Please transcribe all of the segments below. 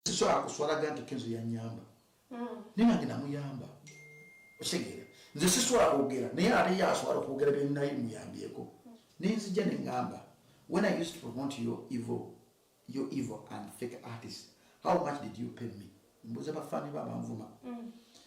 sisobola kuswalaga nti kenzo yanyamba mm. naye nange namuyamba okitegere nze sisobola kwogera naye ate ye asobola okwogera byenaye muyambyeko naye nzija ne ngamba when i used to promote your evil your evil and fake artist how much did you pay me mbuza bafaani ba banvuma mm.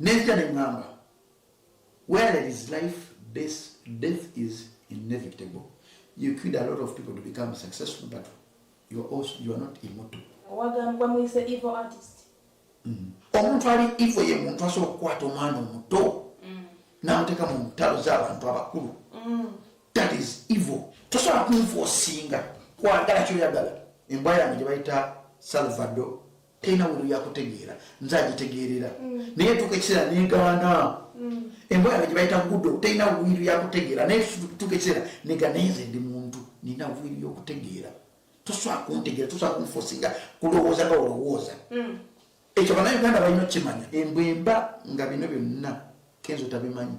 Nenzija ne ŋŋamba, Where there is life, death is inevitable. You killed a lot of people to become successful, but you are, also, you are not immortal. Owagambwa muyise evil artist. Mm. Omuntu ali evil ye muntu asobola okukwata omwana omuto mm. n'amuteeka mu ntalo z'abantu abakulu. Mm. That is evil. Tosobola kunfuosinga kwagala kyoyagala. Embwa yange gye bayita Salvador tena wulu yakutegeera nze agitegeerera mm. naye tuka ekiseera negaana mm. embwa yange gyebayita gudo tena wiru yakutegeera naye tuka ekiseera nega naye nze ndi muntu nina wiru yokutegeera tosobola kuntegeera tosobola kunfosinga kulowooza nga olowooza mm. ekyo banauganda balina okukimanya embwa emba nga bino byonna kenzo tabimanyi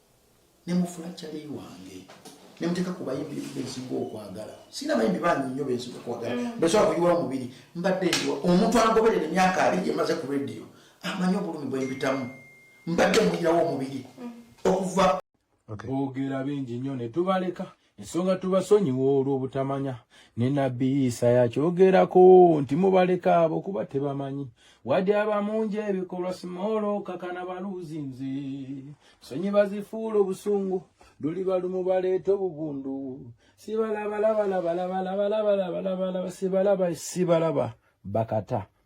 ne mufula kyali wange ne muteka ku bayimbi besinga okwagala sina bayimbi bangi nnyo besinga okwagala mm. besobola kuyiwa omubiri mbadde ndiwa omuntu angoberera emyaka abiri emaze ku rediyo amanyi obulumi bwembitamu mbadde muyirawo omubiri mm. okuva bogera bingi nnyo ne tubaleka ensonga tubasonyiwa olw'obutamanya ne nabbi isa yakyogerako nti mubaleka abo kuba tebamanyi wadi abamungi ebikolwa simoolo kakana baluuzi nze sonyi bazifuula obusungu luli balumu baleeta obubundu sibalabalabalabalabalabalabalaba sibalaba sibalaba bakata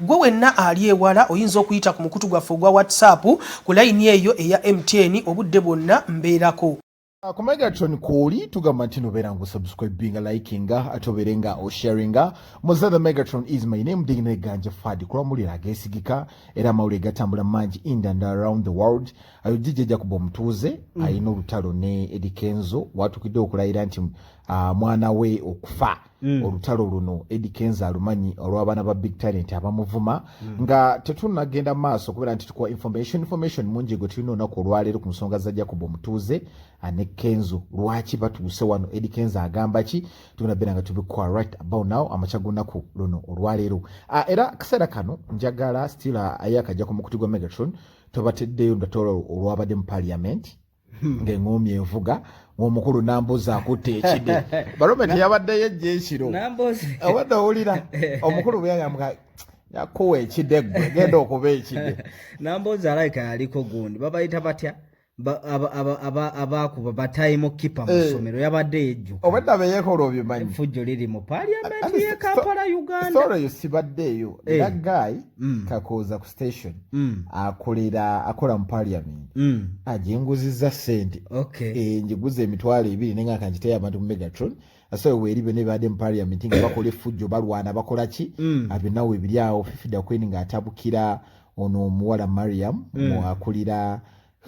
Ggwe wenna ali ewala oyinza okuyita ku mukutu gwaffe ogwa WhatsApp ku layini eyo eya MTN obudde bwonna mbeerako. Uh, ku megatron kwoli tugamba nti nobeera nga osubscribinga likinga ate obeere nga osharinga muze the megatron is my name digina eganja fadi kulwa muliro agesigika era amawulire gatambula mangi ind and around the world ayo jijjaja kuba omutuuze mm. alina olutalo ne edikenzo watukidde okulayira nti uh, mwana we okufa Mm. olutalo luno edi kenza alumanyi olw'abaana ba big talent abamuvuma mm. nga tetunagenda maaso kubera nti tukuwa information information mungi gwe tulina olunaku olwaleero ku nsonga za jacob omutuuze ane kenzo lwaki batuuse wano edi kenza agamba ki tugenda beera nga tubikuwa right about now amakya gunaku luno olwaleero ah, era kaseera kano njagala still ah, ayakajja ku mukuti gwa megatron tobateddeyo ndatolo olwabadde mu parliament Hmm. ng'eŋoomi envuga ng'omukulu namboozi akutte ekide balome teyabaddeyo ejja ekiro abadde owulira omukulu bweyayamuka yakuwa ekide gwe genda okuba ekide namboozi alaika yaliko gundi babayita batya abaakuba batayimo kipa mu ssomero eh. yabadde yejjuka obwedda beyekola obimanyi efujjo liri mu paliamenti ye kampala uganda sibaddeeyo era eh. guy mm. kakooza ku station mm. akolera akola mu parliament mm. ajenguzizza sente okay. e, njiguza emitwalo ebiri nenga kanjiteyo abantu mu megatron asobola weeri byona ebibadde mu parliament nga bakola effujjo balwana bakola ki mm. abinawo ebiri awo fifida queen ng'atabukira ono omuwala mariam mm. akulira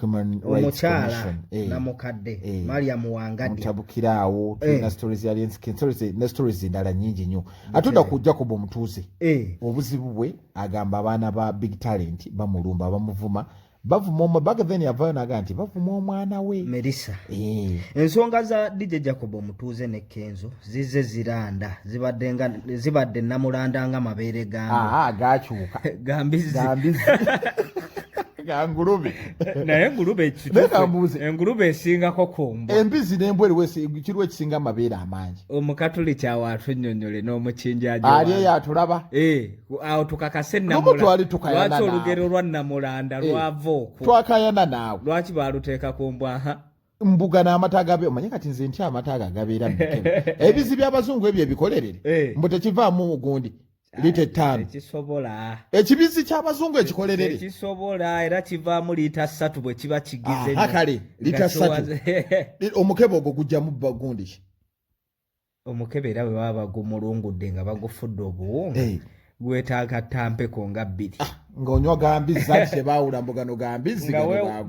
omukyala eh. namukadde eh. mariam wangadyamutabukiraawo tulina stories ya lenskin stories ne stories endala nyingi nnyo ate oda ku jacob omutuuze eh. obuzibu bwe agamba abaana ba big talent bamulumba bamuvuma bavuma omwe baga then yavayo naga nti bavuma omwana we merisa eh. ensonga za dj jacob omutuuze ne kenzo zize ziranda zibadde nga zibadde namulanda nga mabeere gange gakyuka gambizi engulube naye engulube engulube esingako kumbu embizi nembwa eriwo kiriwo ekisinga amabeere amangi omukatuliki awo atunyonyole n'omukinjaali eyo atulaba eh, awo tukakase namulwaki olugero lwa namulanda eh, lwava okwo twakayana naawe lwaki baluteeka ku mbwaha mbuga n'amata gabe omanye kati nze ntya amata ago agabeera ebizi by'abazungu ebyo ebikolerere eh. mbu tekivaamu gundi lita ettaano ekibizzi ky'abazungu ekikolerere kisobola era kivaamu liita ssatu bwe kiba kigize ah, kale liita ssatu omukebe ogwo gujjamu bagundi ki omukebe era bwe baba bagumulungudde nga bagufudde obuwunga eh. gwetaaga tampeko nga bbiri ah, ng'onywa gambizi anti tebaawula mbugano gambizi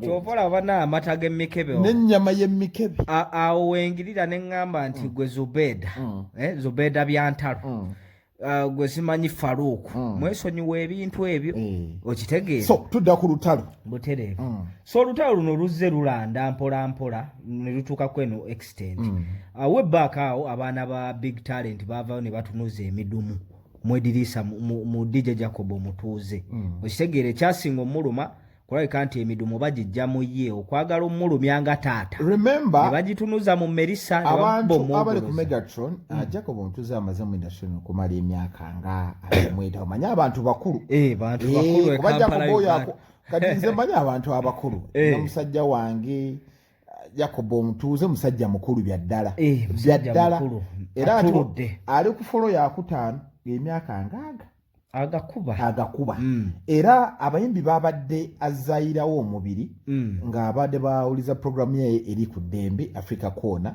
kyova olabana amata g'emikebe n'ennyama y'emikebe awo wengirira ne ŋŋamba nti mm. gwe zubeda mm. eh, zubeda byantalo mm. uh, gwe simanyi faruuku mm. mwesonyiwa ebintu ebyo mm. okitegeera so tudda ku lutalo butereevu mm. so olutalo luno luzze lulanda mpola mpola ne lutuuka kweno extent mm. awo uh, ebbaaka awo abaana ba big talent baavayo ne batunuza emidumu mwediriisa mu, mu, mu dj jacob omutuuze mm. okitegeera ekyasinga omuluma kulabika nti emidumu bagijja mu ye okwagala omulumya nga taata nebagitunuza mu merisa abantu abali ku megatron hmm. ah, jacob ntuze amaze mu industrin okumala emyaka nga alimweta omanye abantu bakulu eh, eh, kuba jacob oyo kati nze manyi abantu abakulu eh. namusajja wange jacob omutuuze musajja mukulu byaddala eh, byaddala era ali ku folo yakutaano emyaka ngaaga agakuba agakuba mm. era abayimbi babadde azayirawo omubiri mm. ng'abadde bawuliza puroguramu yaye eri ku ddembe africa koona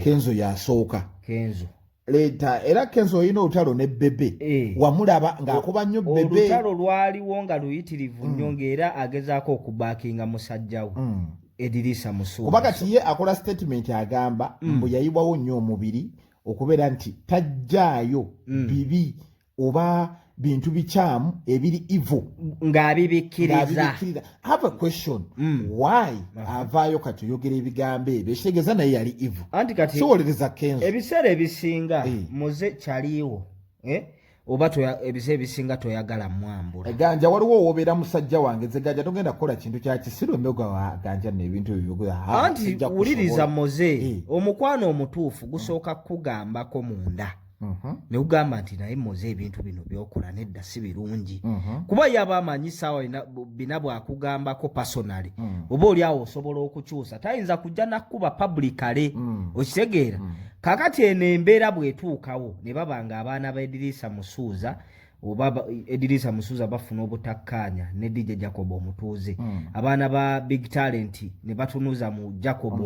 kenzo yasooka kenzo leta era kenzo olina olutalo ne bebe e. wamulaba ng'akuba nnyo bebe olutalo lwaliwo nga luyitirivu nnyo mm. ng'era agezaako okubakinga musajjawo mm. ediriisa musuuba kuba kati ye akola statement agamba mm. mbu yayibwawo nnyo omubiri okubeera nti tajjaayo mm. bibi oba bintu bikyamu ebiri ivo ngaabibikkiriza have a question mm. why uh-huh. avaayo kati oyogera ebigambo ebyo ekitegeeza naye yali ivo anti kati kiwolereza kenzo ebiseera ebisinga hey. Eh. muze kyaliiwo eh? oba ebiseera ebisinga toyagala mwambula eh, ganja waliwo owobeera musajja wange ze ganja togenda kukola kintu kyakisiru emyoga wa ganja nebintu ebyoanti wuliriza muze hey. Eh. omukwano omutuufu gusooka kukugambako munda Uh-huh. nekugamba nti naye moze ebintu bino byokola nedda si birungi uh-huh. kuba yaba amanyi saawa bina bwakugambako personaly mm. oba oli awo osobola okukyusa tayinza kujja nakuba publicale mm. okitegeera mm. kakati eno embeera bwetuukawo ne babanga abaana ba ediriisa musuuza oba edirisa musuza bafuna obutakkaanya ne dj jacob omutuuze mm. abaana ba big talent ne batunuza mu jacob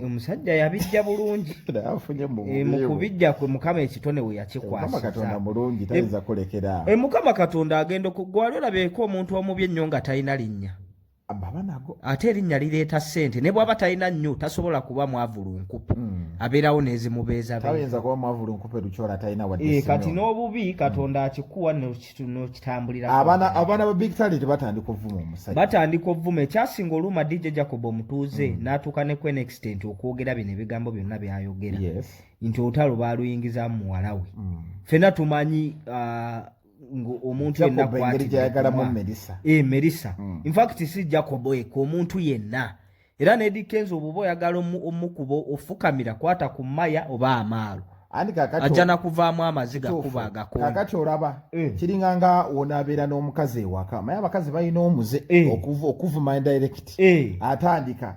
omusajja eh, yabijja bulungi eh, mukubijja kwe mukama ekitone we yakikwasizaemukama eh, katonda agenda okugwali olabeeko omuntu omubi ennyo nga talina linnya babanago ate erinnya lireeta ssente ne bwaba talina nnyo tasobola kuba mwavulunkupe mm. abeerawo nezimubeezatayinza kuba mwavulunkupe lukyola talina wadde eh, kati n'obubi katonda akikuwa nokitambulira abaana abaana ba big talent batandika ovuma omusajja batandika ovuma ekyasinga oluuma dj jacob omutuuze mm. n'atuuka ne kwen extent okwogera bino ebigambo byonna byayogera yes. nti olutalo baaluyingizamu muwala we mm. fena tumanyi uh, omuntu yenna kwatmerisa eh, merisa hmm. infact si jacobo eka omuntu yenna era nedikenza obuba oyagala omukuba ofukamira kwata ku maya oba amaalo ajja nakuvaamu amaziga kuba agakakati olaba eh. kiringa nga wonabeera n'omukazi ewaka maye abakazi balina omuze eh. okuvuma indirect atandika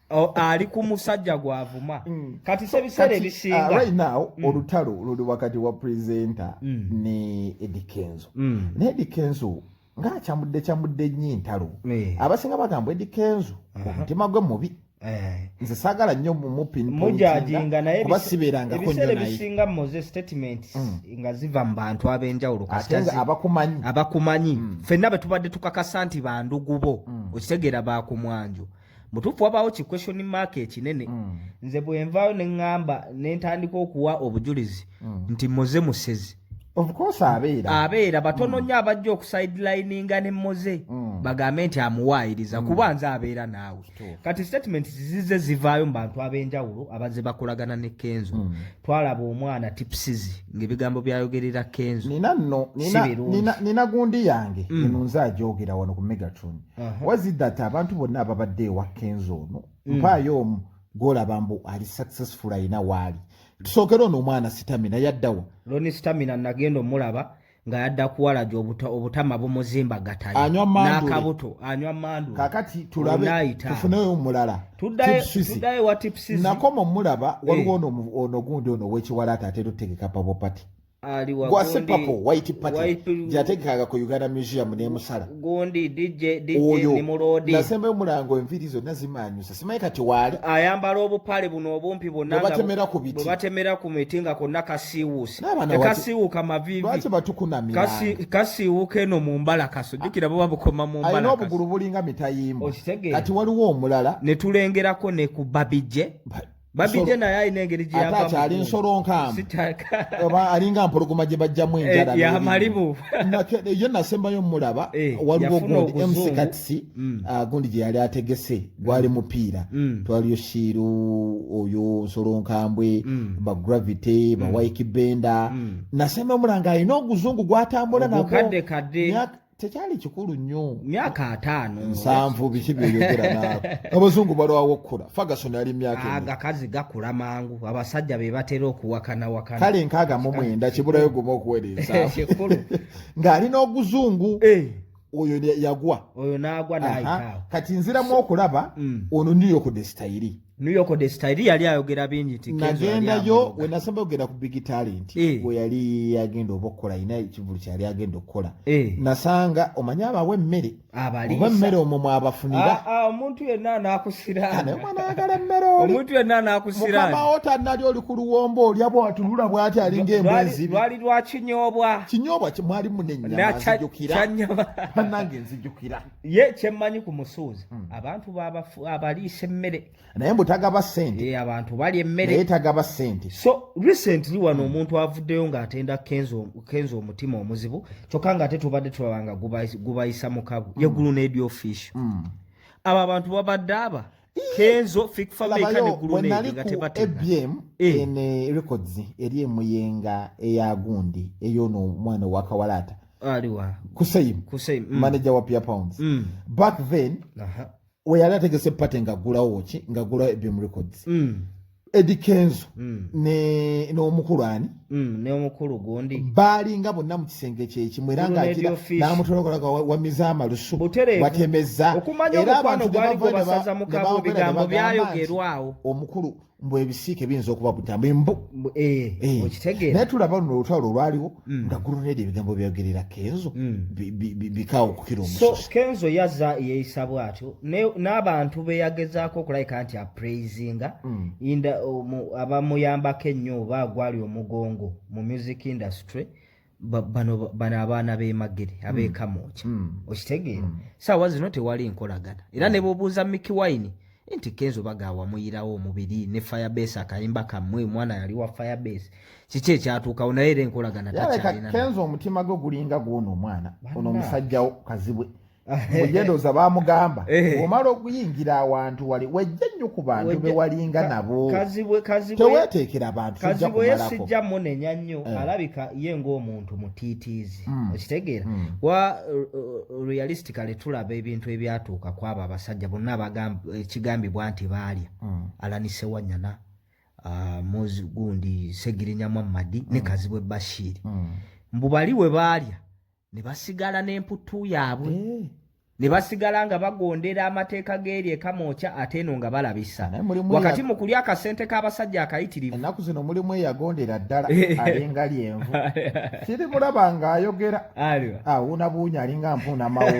Oh, ali ku musajja gwavuma mm. kati se biseera ebisinga uh, right now mm. olutalo luli wakati wa presenter mm. ne edikenzo mm. ne edikenzo nga akyamudde kyamudde nnyo entalo eh. abasinga bagamba edikenzo uh -huh. omutima gwe mubi eh. nze sagala nnyo mumupinmujajinga nayekuba sibeerangako nyo nayebisinga moze statement mm. nga ziva mu bantu ab'enjawulo katenga abakumanyi abakumanyi mm. fenna bwe tubadde tukakasa nti bandugubo mm. okitegeera bakumwanjo mutuufu wabaawo ki question mark ekinene mm. nze bwenvaayo neŋŋamba ne ntandika okuwa obujulizi mm. nti moze musezi abeera batono mm. nnyo abajja okusidelininga ne moze mm. bagambe nti amuwaayiriza mm. kuba nze abeera naawe kati statement zize zivaayo mu bantu ab'enjawulo abazze bakolagana ne kenzo mm. twalaba omwana tipsizi ng'ebigambo byayogerera kenzo nina gundi yange mm. eno nze agyogera wano ku megatron wazidata abantu bonna ababadde ewa kenzo ono mm. mpaayo omu gwolaba mbu ali successful alina waali tusookera ono omwana sitamina yaddawa loni sitamina nagenda omulaba nga yadda kuwalaja obutama bumuzimbagatayonakabuto anywa mandu kakati tulabetufuneyo omulala tuddayo watipsinakoma omulaba waliwo eh. ono gundi ono wekiwalaata ateera otegeka pabopati gwase papo white party gyategekaga ku uganda museum nemusala oyo nasemba omulango enviri zonna zimanyusa simanyi kati waali ayambala obupale buno obumpi bonabatemera ku biti batemera ku miti nga konna kasiiwuusi tekasiiwuuka mavivilwaki batukunamirakasiiwuuka eno mu mbala kaso jukira buba bukoma mu mbala obugulu bulinga mitayimbo kati waliwo omulala netulengerako ne ku babije babijje naye alina engeri gyeyava ate akyali nsolo nkaamu oba alinga mpologoma gye bajjamu eh, enjala yamalibu ye nasembayo mulaba eh, waliwo gundi mcatsi mm. ah, gundi gye yali ategese mm. gwali mupiira mm. twaliyo shiiru oyo nsolo nkambwe bagravity bawaiki benda nasembayo mulanga alina oguzungu gwatambula nagwo tekyali kikulu nnyo myaka ataano nsanvu biki byoyogera naawe abazungu balwawo okukula fagason ali myaka agakazi ah, gakula mangu abasajja be batera okuwakana wakana kale nkaaga mu mwenda kibulayo guma okuwereeza ng'ali n'oguzungu eh. oyo yagwa oyo n'agwa naayitaawo kati nziramu okulaba mm. ono niyo kudesitayiri New York de style yali ayogera bingi nti nagenda yo we nasamba ogera ku big talent eh. we yali yagenda obokola ina ekivulu kyali agenda okola eh. nasanga omanya abawe mmere abali owe mmere omo mwabafunira ah, ah omuntu yenna nakusira ane mwana agala mmere oli omuntu yenna nakusira mukama ota nali oli ku luwombo oli abo atulula bwati ali nge mwenzi bali lwa kinyobwa kinyobwa kimwali munenya nazijukira kanyama nange nzijukira ye kyemmanyi ku musuuza hmm. abantu abaliisa emmere naye mbu tagaba sente eh, abantu bali emmere naye tagaba sente so recently wano hmm. omuntu avuddeyo ng'atenda kenza omutima omuzibu kyokka ng'ate tubadde tulaba nga gubayisa mukabu hmm. yegulu n'ebyofiisho abo abantu babadde aba kenzo fik fameka ne gulune nga tebate ebm eh. en eh, records eri emuyenga eya gundi eyo no mwana wa kawalata aliwa kusayim kusayim mm. manager wa pia pounds mm. back then aha uh -huh. we yali ategese pate nga gulawo ki nga gulawo ebm records mm. Eddie Kenzo mm. ne n'omukulu ani mm, ne omukulu gundi bali nga bonna mu kisenge kyeki mwera nga akira namutolokola kwa wamiza amalusu watemeza okumanya okwano gwali kwa basaza mukabo bigambo byayo gerwao omukulu mbu ebisiike binzo okuba butambi mbu eh, eh. okitegera netulaba no lutalo lwaliwo mm. nga gulunedi ebigambo byogerera kenzo mm. bikaawo okukira omuso kenzo yaza yeeyisa bwatyo n'abantu beyagezaako okulabika nti apraisinga mm. inda abamuyambako ennyo oba agwali omugongo mu music industry bano abaana b'emagere abeekamuukya okitegeera saawa zino tewali nkolagana era ne bwobuuza miki wine nti kenzo baga wamuyirawo omubiri ne firebase akayimba kamwe omwana yali wa firebase kiki ekyatuukawo naye era enkolagana takyalina kenzo omutima gwe gulinga gwona omwana ono omusajjawo kazibwe mujedoza bamugamba eh. omala okuyingira awantu wali wejja nnyo ku bantu bewalinga nabo teweteekera abantu kazibwe sijja munenya nnyo eh. alabika ye ngaomuntu mutiitiizi hmm. okitegeera hmm. wa uh, uh, realistic nti kale tulaba ebintu ebyatuuka ku abo abasajja bonna ekigambibwa nti baalya mm. alanise wanyana uh, mozi gundi segirinya muhammadi mm. ne kazibwe bashiri mm. mbu bali we baalya ne basigala n'emputtu yaabwe eh. ne basigala nga bagondera amateeka g'eri ekamwokya ate eno nga balabisa wakati mu kulya akasente k'abasajja akayitirivu ennaku zino mulimu eyagondera ddala eh. alinga lyenvu kirimulaba ng'ayogera aliwa ah una bunya alinga mpuna mawo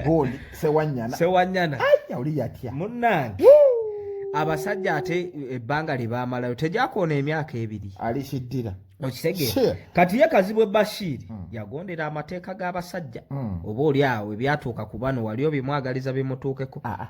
gondi sewanyana sewanyana aya uli yatia munange abasajja ate ebbanga lye baamalayo tegyakoona emyaka ebiri alikiddira okitegeera kati ye kazibwe bashiiri mm. yagondera amateeka g'abasajja mm. oba oli awo ebyatuuka ku bano wali obimwagaliza bimutuukeko ah, ah.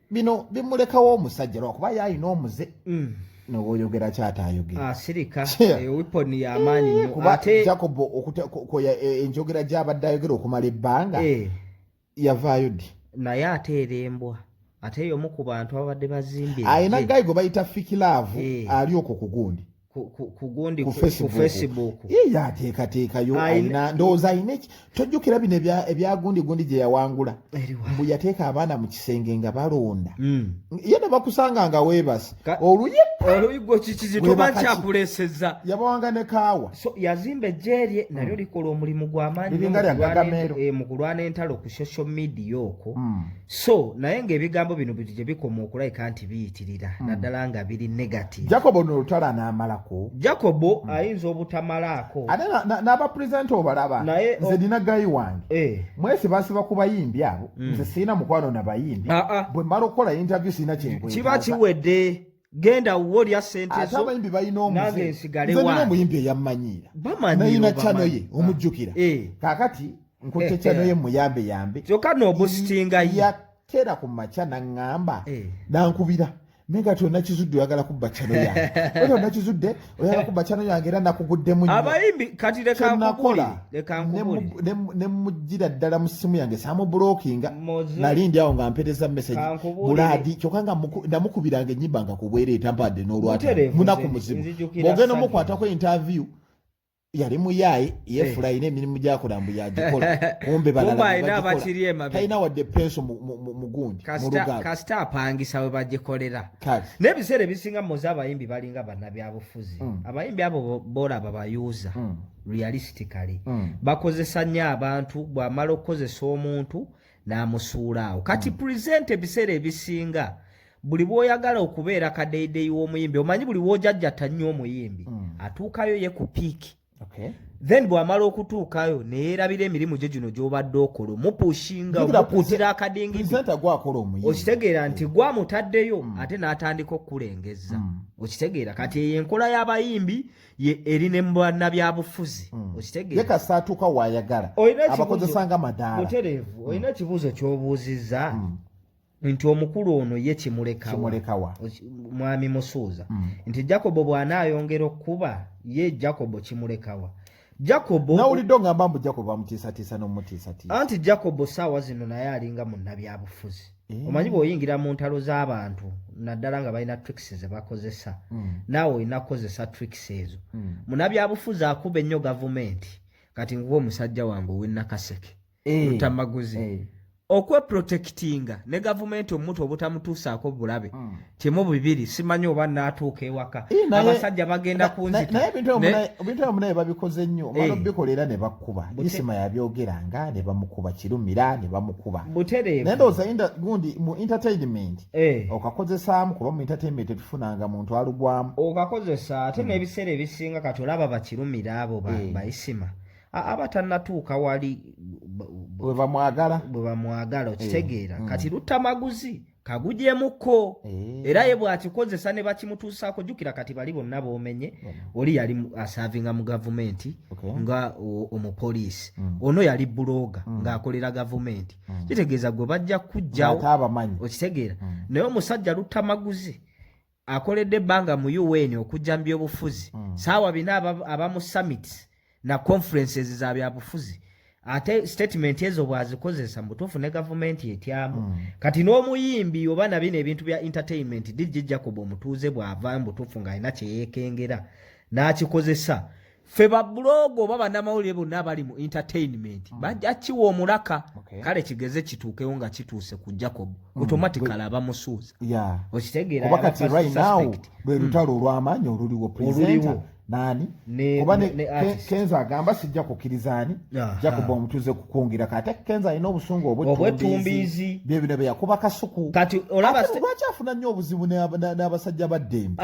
bino bimulekawo omusajja lwakuba ye alina omuze mm. nowoyogera kyata ayogera asirika ah, eh, wiponi yamaanyi nyo kuba jacob okukoya eh, enjogera gyabadde ayogera okumala ebbanga eh. yavaayo ddi naye ate erembwa ate yomu ku bantu ababadde bazimbye alina gayi gwe bayita fikilaavu ali okwo ku gundi kugundi ku facebook ye ateekateekayo alina ndowooza alina eki tojjukira bino ebyagundi gundi gye yawangula mbu yateeka abaana mu kisenge nga balonda hmm. ye ne bakusanga nga weebasi oluyi oluyi gwo kikizitoba kyakuleeseza yabawanga ne kaawa so yazimba ejjeerye hmm. nalyo likola omulimu gw'amaanyi mu kulwana entalo ku social media okwo hmm. so naye ng'ebigambo bino bino gye bikoma okulabika nti biyitirira hmm. naddala nga biri negative jacobo no olutala n'amalako jacobo hmm. ayinza obutamalaako ate n'abapurezidenti obalaba nze nina gayi wange eh. mwesi basiba ku bayimbi abo hmm. nze sirina mukwano na bayimbi ah, ah. bwe mala okukola interview sirina kyenkwe kiba kiwedde genda wo lya sente zo abayimbi balina omuze nsigale wa nze muyimbi eyammanyiira nayina chano ye ah. omujjukira eh. kakati nkutte eh, chano eh. ye muyambe yambe kyokka noobustinga yatera ku makya naŋŋamba nankubira naye nga tonakizudde oyagala kubba chano yange otonakizudde oyagala kuba channel yange era nakuguddemu nnyo abayimbi kati leka nkukuli leka nkukuli ne mujira ddala mu simu yange samu blocking nali ndi awo nga mpeteza message buladi kyoka nga ndamukubiranga enyimba nga kubwere etampade n'olwata munaku muzibu bogenda mukwatako interview yali muyaaye yeefula eh. alina emirimu gyakola mbu yagikola kumbe balalatalina wadde penso mugundi kasita apangisa we bagikolera n'ebiseera ebisinga muze abayimbi balinga bannabyabufuzi hmm. abayimbi abo bolaba bayuuza hmm. realistically hmm. bakozesa nnyo abantu bw'amala okukozesa omuntu n'amusuulaawo kati present ebiseera ebisinga buli bwoyagala okubeera kadeyideyi w'omuyimbi omanyi buli wojajjata nnyo omuyimbi mm. atuukayo ye ku piiki okay. then bwamala okutuukayo neyerabira emirimu gye gino gyobadde okola omupushinga omukutira akadingidokitegeera mm. nti gwamutaddeyo mm. ate n'atandika okukulengeza mm. okitegeera kati eyo enkola y'abayimbi eri ne mubana byabufuzi mm. okitegeerekasatuuka wayagala abakozesanga madaala mutereevu olina ekibuuzo kyobuuzizza mm. nti omukulu ono ye kimulekawa mwami musuuza mm. nti jacobo bw'anaayongera okukuba ye jacobo kimulekawa jacobo nawulidde ongamba mbu jacobo amutiisatiisa n'omutiisatiisa anti jacobo saawa zino naye alinga munnabyabufuzi eh. omanyi bw'oyingira mu ntalo z'abantu naddala nga balina tricks ze bakozesa mm. naawe olina kukozesa tricks ezo mm. munnabyabufuzi akuba ennyo gavumenti kati nguwa omusajja wange ow'ennakaseke eh. lutamaguzi eh. okweprotekitinga ne gavumenti omuntu obutamutuusaako bulabe hmm. kimu bibiri simanyi oba naatuuka ewaka eh, abasajja bagenda kunzitaebintuomunaye babikoze nnyo omala obikola era ne bakuba isima yabyogeranga ne bamukuba kirumira ne bamukuba buterenaye ndowooza gundi mu entertainment okakozesaamu kuba mu entertainment tetufunanga muntu alugwamu okakozesa ate hmm. n'ebiseera ebisinga kati olaba bakirumira abo baisima ba aba tannatuuka wali bwe bamwagala bwe bamwagala eh, okitegeera mm. kati luttamaguzi kagujemuko eh. era ye bw'akikozesa ne bakimutuusaako jjukira kati bali bonna boomenye oli yali asaavinga mu gavumenti nga omupoliisi mm. ono yali bulooga mm. ng'akolera gavumenti kitegeeza gwe bajja kujjawo okitegeera naye omusajja luttamaguzi akoledde ebbanga mu un okujja mu byobufuzi mm. saawa bina aba mu summits na conferences za byabufuzi ate statement ezo bwazikozesa mubutuufu ne gavumenti etyamu mm. kati n'omuyimbi oba nabino ebintu bya entertainment dj jacob omutuuze bwava mubutuufu ng'alina kyeyekengera n'akikozesa fe babulogo oba banamawulire bonna abali mu entertainment mm. bajja kiwa omulaka okay. kale kigeze kituukewo nga kituuse ku jacob mm. automatically aba musuuza yeah. okitegeera kati right now mm. lwe lutalo olw'amaanyi oluliwo presenter nani oba kenza agamba sijja kukkiriza ani jacob omutuze kukungira kati kenza alina obusungu obwetumbiizi byebino byeyakuba kasuku kati olaba lwaki afuna nnyo obuzibu n'abasajja ba ddembe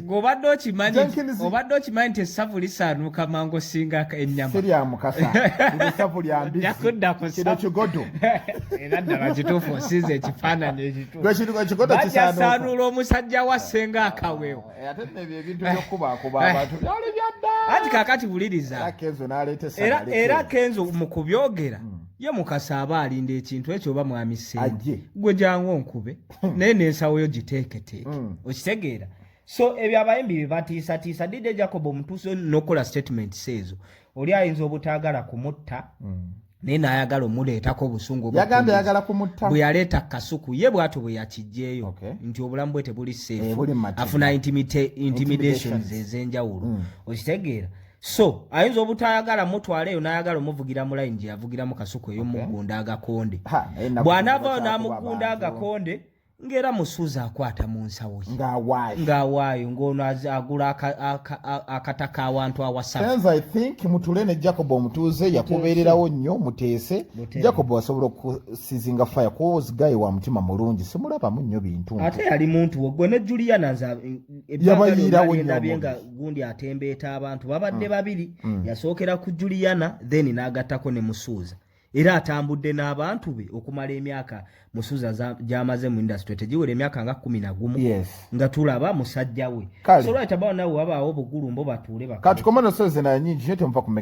ng'obadde okimanyi obadde okimanyi nti essavu lisaanuuka mangu osinga ennyama si lya mukasa essavu lya mbizikino kigodo era ddala kituufu osinza ekifaananyi ekituufubajasaanula omusajja wa ssenga akawewo eh, ate nebyo ebintu byokubakuba abantu byali byadda anti kakati buliriza era kenzo mu kubyogera hmm. ye mukasa aba alinda ekintu ekyo oba mwami ssenga gwe jangu onkube hmm. naye nensawo yo giteeketeeke hmm. okitegeera so ebyo abayimbi bebatiisatiisa didde jacob omutuusi nokukola statement seezo oli ayinza obutaagala kumutta hmm. naye nayagala omuleetako obusungu bwe yaleeta kasuku ye bwatyo bwe yakijjeeyo nti obulamu bwe tebuli seefu eh, afuna intimidations ezenjawulo mm. okitegeera so ayinza obutayagala mutwala eyo nayagala omuvugira mu line gyeyavugiramu kasuku eyo mugunda agakonde eh, bwanavayo namugunda agakonde ngaera musuuza akwata mu nsawo ye ngaawaayo ngaono agula akataka awantu awasamutule ne jacob omutuuze yakubeererawo nnyo muteese jacob asobola okusizinga fire kuwozi gayi wa mutima mulungi simulabamu nnyo bintu ate yali muntu wegwe ne juliana yabayiirawo nnyo gundi atembeeta abantu babadde mm. babiri mm. yasookera ku juliana then n'agattako ne musuuza era atambudde n'abantu be okumala emyaka musuuza gy'amaze mu industry tegiwera emyaka nga kumi na gumu nga tulaba musajja we solwatabawo nawe wabaawo obugulumbo batuule bakati komano sozi nanyingi nyo temuva kumega